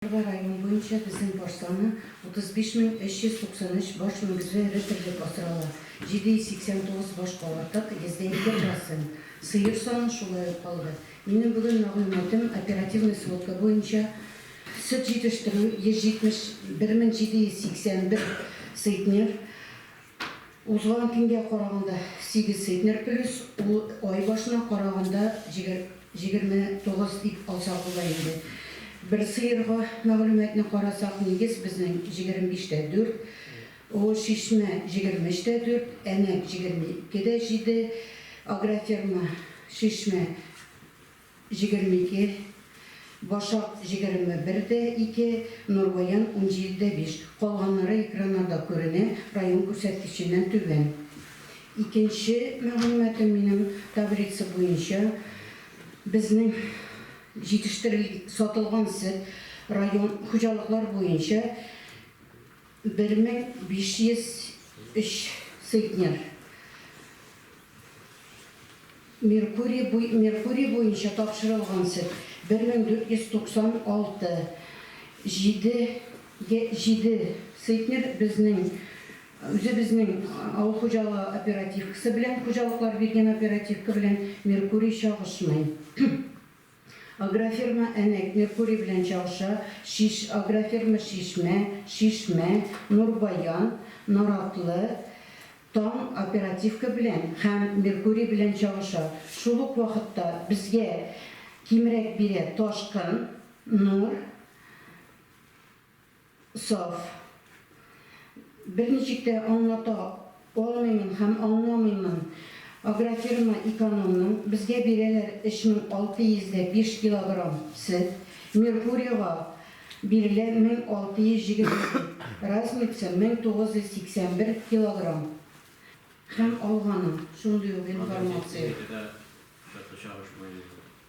Алда район буенча безнең баш саны 35393 баш мөгезле эре терлек асрала, 789 баш калатык, йөздә ике процент. Сыер саны шулай ук калды. Минем бүген мәгълүматым оперативный сводка буенча сөт җитештерү 171781 цитнер, Узган көнгә караганда сигез центнер плюс, ул ай башына караганда җиде-җигерме тугыз дип алсак була инде. Бер сыерга мәгълүматны карасак, нигез безнең җигерме биш тә дүрт, Олы Чишмә җигерме өч тә дүрт, Әнәк җигерме ике дә җиде, Агроферма Чишмә, Җегерме ике, Башак җегерме бер дә ике, Нурбаян унҗиде дә биш. Калганнары экраннарда күренә, район күрсәткеченнән түбән. Икенче мәгълүматым минем таблица буенча безнең җитештерел сатылган сөт район хуҗалыклар буенча бер мең биш йөз өч центнер. Меркурий буенча тапшырылган сөт, 1496. Җиде центнер безнең үзебезнең авыл хуҗалыгы оперативкасы белән, хуҗалыклар биргән оперативка белән Меркурий чагышмый. Агрофирма Әнәк, Меркурий белән Чалша, Шиш, Агрофирма Чишмә, Шишмә, Нурбаян, Наратлы, Таң, Оперативка белән һәм Меркурий белән чагыша. Шул ук вакытта безгә кимрәк бирә Ташкын, Нур, Саф. Берничек тә аңлата алмыймын һәм аңламыймын. Агрофирма экономның, безгә бирәләр 3605 килограмм сөт, Меркурьега бирелә 1627, разница 1981 килограмм. Һәм алганың шундый ук информация.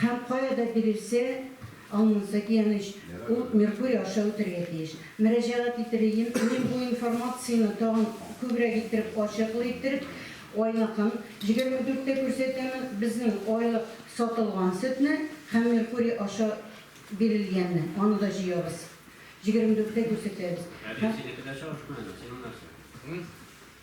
Һәм кая да бирелсә, аннысы, кияүнеч, ул Меркурий аша үтәргә тиеш. Мөрәҗәгать итәрьем, мин бу информацияне тагын күбрәк иттереп, ачыклы иттереп, айныкын, егерме дүрттә күрсәтәмен, безнең айлык сатылган сөтне һәм Меркурий аша бирелгәнне, аны да җыябыз, җигерме дүрттә күрсәтәбез. Әби, синеке дә чагышмы әле, синең нәрсә?